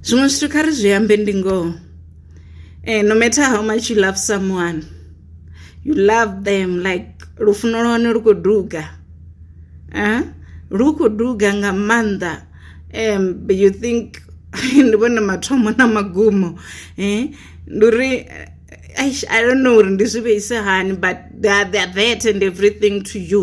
Zwiṅwe zwithu kha ri zwi ambe ndi ngoho no matter how much you love someone you love them like lufuno lwa hone lu kho duga lu kho duga nga maanḓa you think ndi vhone mathomo na magumo ndi uri eish I don't know uri ndi zwi vheisa hani but they are there and everything to you.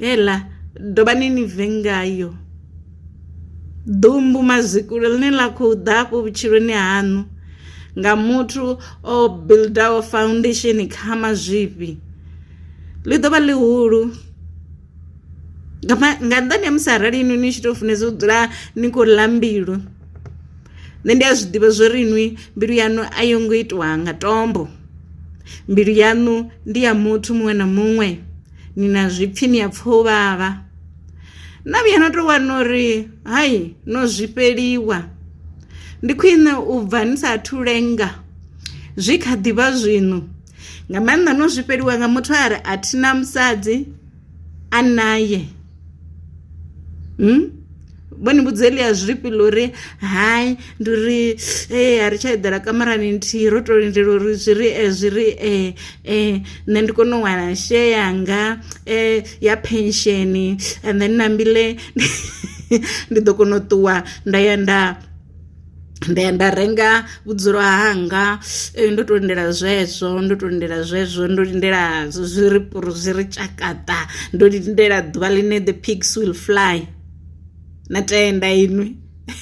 Heḽa, dovhani ni bve ngayo. Ḓumbu mazwikule ḽine ḽa khou ḓa afho vhutshiloni haṋu nga muthu o buildaho foundation kha mazwifhi ḽi ḓovha ḽihulu nga nga nnḓani ha musi arali inwi ni tshi to funesa u dzula ni khou ḽa mbilu nṋe ndi a zwi ḓivha zwori inwi mbilu yaṋu a yo ngo itiwa nga tombo mbilu yaṋu ndi ya muthu muṅwe na muṅwe. ni na zwipfi ni a pfa u vhavha na vhuya na tou wana uri hai no zwifheliwa ndi khwine u bva ni sa athu lenga zwi kha ḓivha zwino nga maanḓa no zwifheliwa nga muthu a re a thina musadzi a naye. Vho ni vhudza heḽia zwifhi ḽa uri hai ndi uri ee a ri tsha eḓela kamarani nthihi ro to lindela uri zwi ri zwi ri nṋe ndi kone u wana share yanga ya pension and then na mbilu ndi ḓo kona u ṱuwa nda ya nda. nda ya nda renga vhudzulo hanga ndo to lindela zwezwo ndo to lindela zwezwo ndo lindela zwi ri zwi ri tshakata ndo lindela ḓuvha ḽine the pigs will fly na tenda inwi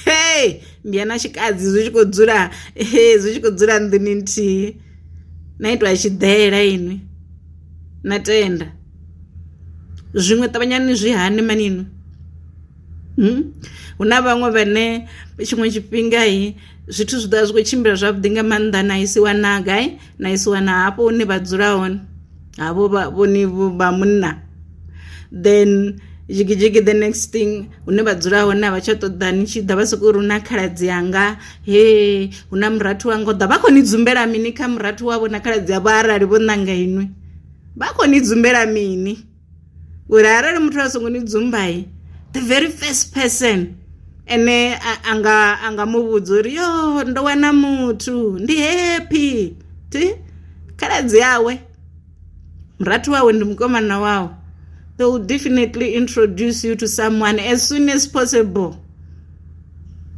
hey ndi ya na tshikadzi zwi tshi kho dzula hey zwi tshi kho dzula nḓuni nthihi na itwa tshiḓela inwi na tenda zwiṅwe ṱavhanyani zwi hani mani inwi Hu na vhaṅwe vhane tshiṅwe tshifhinga zwithu zwi ḓovha zwi kho tshimbila zwavhuḓi nga maanḓa na isi wana gai na isi wana hafho hune vha dzula hone havho vha vhoni vha munna then dzhigi dzhigi the next thing hune vha dzula hone a vha tsha ṱoḓa ni tshi ḓa vha soko ri hu na khaladzi anga he hu na murathu wa nga u ḓa vha kho ni dzumbela mini kha murathu wavho na khaladzi avho arali vho ṋanga inwi vha kho ni dzumbela mini. ngori arali muthu a songo ni dzumbai the very first person ene anga anga muvhudza uri yo ndo wana muthu ndi happy ti khaladzi yawe murathu wawe ndi mukomana wawe they will definitely introduce you to someone as soon as possible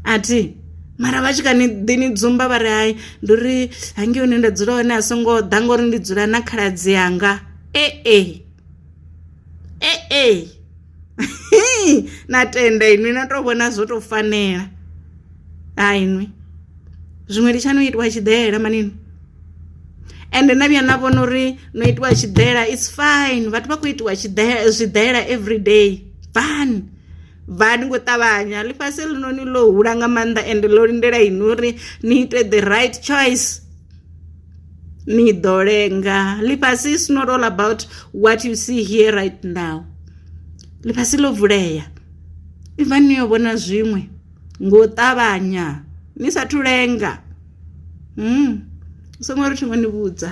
ati mara vha tshi kha ni ḓi ni dzumba vha ri hai ndi uri hangi hune nda dzula hone a songo ḓa ngori ndi dzula na khaladzi yanga e e e e na tenda inwi na to vhona zwo to fanela ha inwi zwiṅwe ndi tsha no itwa tshiḓela manini ende na vhuya na vhona uri no itiwa tshiḓela its fine vhathu vha khou itiwa tshiḓela zwiḓela every day fine vha ni ngo ṱavhanya ḽifhasi ḽinoni ḽo hula nga maanḓa ende ḽo lindela inwi uri ni ite the right choice ni ḓo lenga ḽifhasi is not all about what you see here right now ḽifhasi ḽo vulea iva ni yo vhona zwiṅwe ngo ṱavhanya ni sathu lenga mm songo ri thingo ni vhudza.